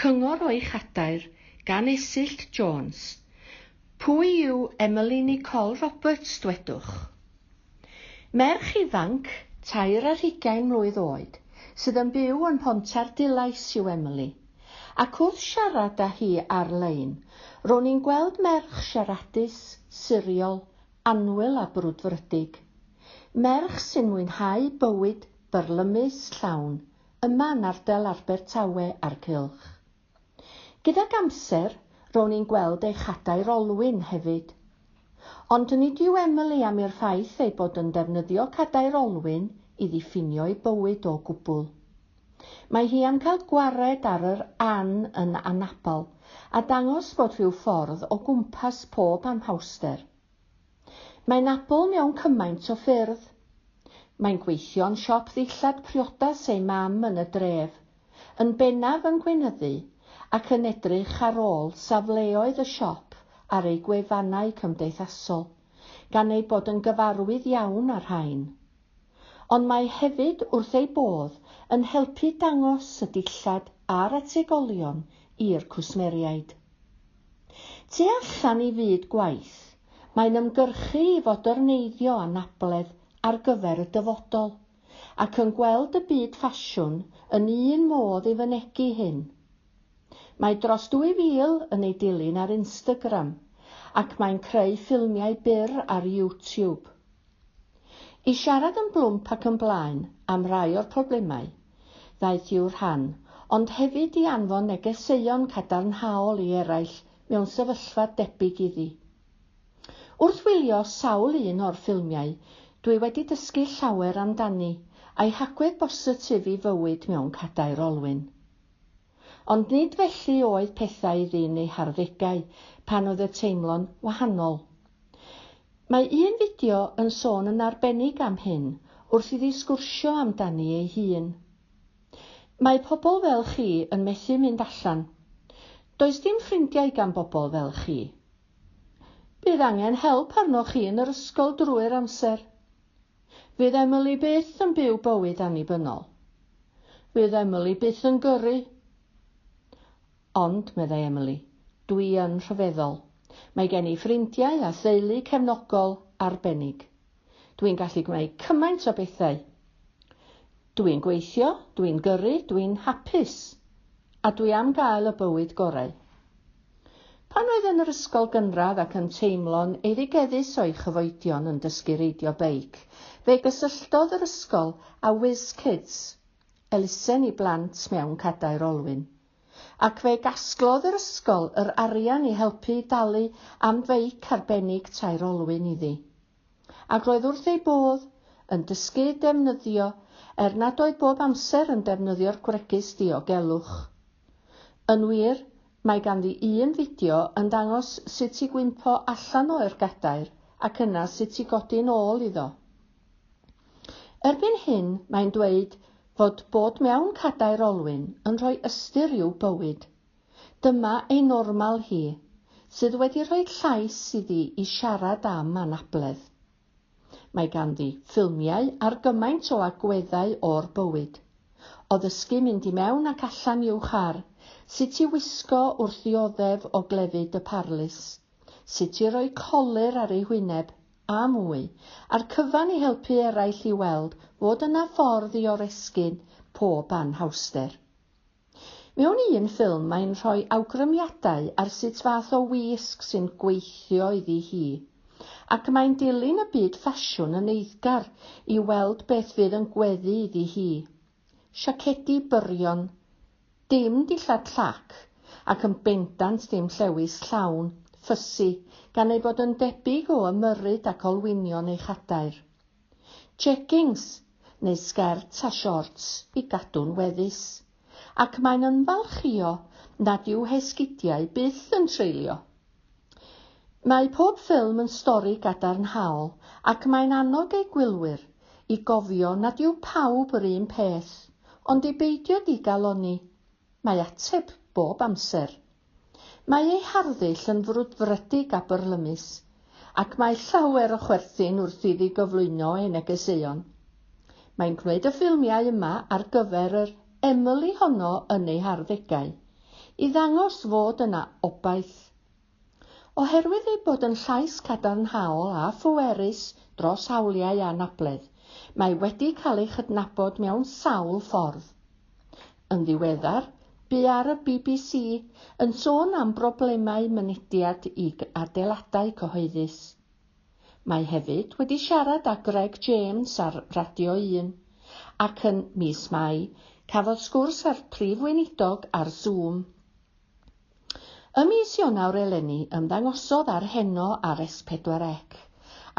Cyngor o'i chadair gan Esyllt Jones. Pwy yw Emily Nicole Roberts, dwedwch? Merch ifanc, tair ar hugain mlwydd oed, sydd yn byw yn Mhontarddulais yw Emily, ac wrth siarad â hi ar-lein, ro'n i'n gweld merch siaradus, siriol, annwyl a brwdfrydig. Merch sy'n mwynhau bywyd byrlymus, llawn, yma yn ardal Abertawe a'r cylch. Gydag amser, rown i'n gweld eich hadair olwyn hefyd. Ond nid yw Emily am i'r ffaith ei bod yn defnyddio cadair olwyn i ddiffinio ei bywyd o gwbl. Mae hi am cael gwared ar yr An yn anabl a dangos bod rhyw ffordd o gwmpas pob anhawster. Mae Nabl mewn cymaint o ffyrdd. Mae'n gweithio'n siop ddillad priodas ei mam yn y dref, yn bennaf yn gweinyddu ac yn edrych ar ôl safleoedd y siop ar eu gwefannau cymdeithasol, gan ei bod yn gyfarwydd iawn â'r rhain. ond mae hefyd wrth ei bodd yn helpu dangos y dillad a'r ategolion i'r cwsmeriaid. Tu allan i fyd gwaith, mae'n ymgyrchu i fodyrneiddio anabledd ar gyfer y dyfodol, ac yn gweld y byd ffasiwn yn un modd i fynegi hyn. Mae dros 2,000 yn ei dilyn ar Instagram, ac mae'n creu ffilmiau byr ar YouTube. I siarad yn blwmp ac yn blaen am rai o'r problemau ddaeth i'w rhan, ond hefyd i anfon negeseuon cadarnhaol i eraill mewn sefyllfa debyg iddi. Wrth wylio sawl un o'r ffilmiau, dwi wedi dysgu llawer amdani, a'i hagwedd bositif i fywyd mewn cadair olwyn. Ond nid felly oedd pethau iddi yn ei harddegau, pan oedd y teimlo'n wahanol. Mae un fideo yn sôn yn arbennig am hyn, wrth iddi sgwrsio amdani ei hun. Mae pobl fel chi yn methu mynd allan. Does dim ffrindiau gan bobl fel chi. Bydd angen help arnoch chi yn yr ysgol drwy'r amser. Fydd Emily byth yn byw bywyd annibynnol. Fydd Emily byth yn gyrru. Ond, meddai Emily, dwi yn rhyfeddol. Mae gen i ffrindiau a theulu cefnogol arbennig. Dwi'n gallu gwneud cymaint o bethau. Dw i'n gweithio, dw i'n gyrru, dw i'n hapus, a dw i am gael y bywyd gorau. Pan oedd yn yr ysgol gynradd ac yn teimlo'n eirigeddus o'i chyfoedion yn dysgu reidio beic, fe gysylltodd yr ysgol â Whiz Kids, elusen i blant mewn cadair olwyn. Ac fe gasglodd yr ysgol yr arian i helpu i dalu am feic arbennig tair olwyn iddi. Ac roedd wrth ei bodd yn dysgu defnyddio er nad oedd bob amser yn defnyddio'r gwregys diogelwch. Yn wir, mae ganddi un fideo yn dangos sut i gwympo allan o eur gadair ac yna sut i godi'n ôl iddo. Erbyn hyn, mae'n dweud fod bod mewn cadair olwyn yn rhoi ystyr i'w bywyd. Dyma ei normal hi, sydd wedi rhoi llais iddi i siarad am anabledd. Mae ganddi ffilmiau ar gymaint o agweddau o'r bywyd, o ddysgu mynd i mewn ac allan i'w char, sut i wisgo wrth ddioddef o glefyd y parlys, sut i roi colur ar ei hwyneb, a mwy, a'r cyfan i helpu eraill i weld fod yna ffordd i oresgyn pob anhawster. Mewn un ffilm mae'n rhoi awgrymiadau ar sut fath o wisg sy'n gweithio iddi hi. Ac mae'n dilyn y byd ffasiwn yn eiddgar i weld beth fydd yn gweddu iddi hi. Siacedi byrion, dim dillad llac, ac yn bendant ddim llewys llawn, ffysi, gan ei fod yn debyg o ymyrryd ac olwynion ei chadair. jeggings neu sgerts a siorts i gadw'n weddus, ac mae'n ymfalchïo nad yw hesgidiau byth yn treulio. Mae pob ffilm yn stori gadarnhaol ac mae'n annog ei gwylwyr i gofio nad yw pawb yr un peth, ond i beidio digalonni Mae ateb bob amser. Mae ei harddull yn frwdfrydig a byrlymus, ac mae llawer o chwerthin wrth iddi gyflwyno ei negeseuon. Mae'n gwneud y ffilmiau yma ar gyfer yr Emily honno yn ei harddegau, i ddangos fod yna obaith Oherwydd ei bod yn llais cadarnhaol a phwerus dros hawliau anabledd, mae wedi cael ei chydnabod mewn sawl ffordd. Yn ddiweddar, bu ar y bbc yn sôn am broblemau mynediad i adeiladau cyhoeddus. Mae hefyd wedi siarad â Greg James ar Radio Yn, ac yn mis Mai, cafodd sgwrs â'r Prif Weinidog ar Zoom. Ym mis Ionawr eleni ymddangosodd ar Heno ar S4C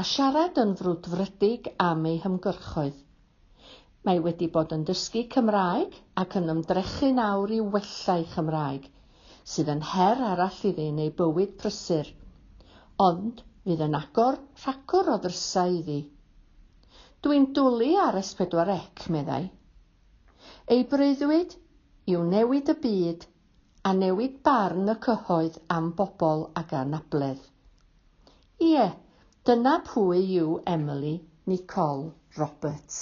a siarad yn frwdfrydig am ei hymgyrchoedd. Mae wedi bod yn dysgu Cymraeg ac yn ymdrechu'n awr i wella'i Chymraeg, sydd yn her arall iddi yn ei bywyd prysur, ond fydd yn agor rhagor o ddrysau iddi. Dwi'n dwlu ar S4C, meddai. Ei breuddwyd yw newid y byd a newid barn y cyhoedd am bobl ag anabledd. Ie, dyna pwy yw Emily Nicole Roberts.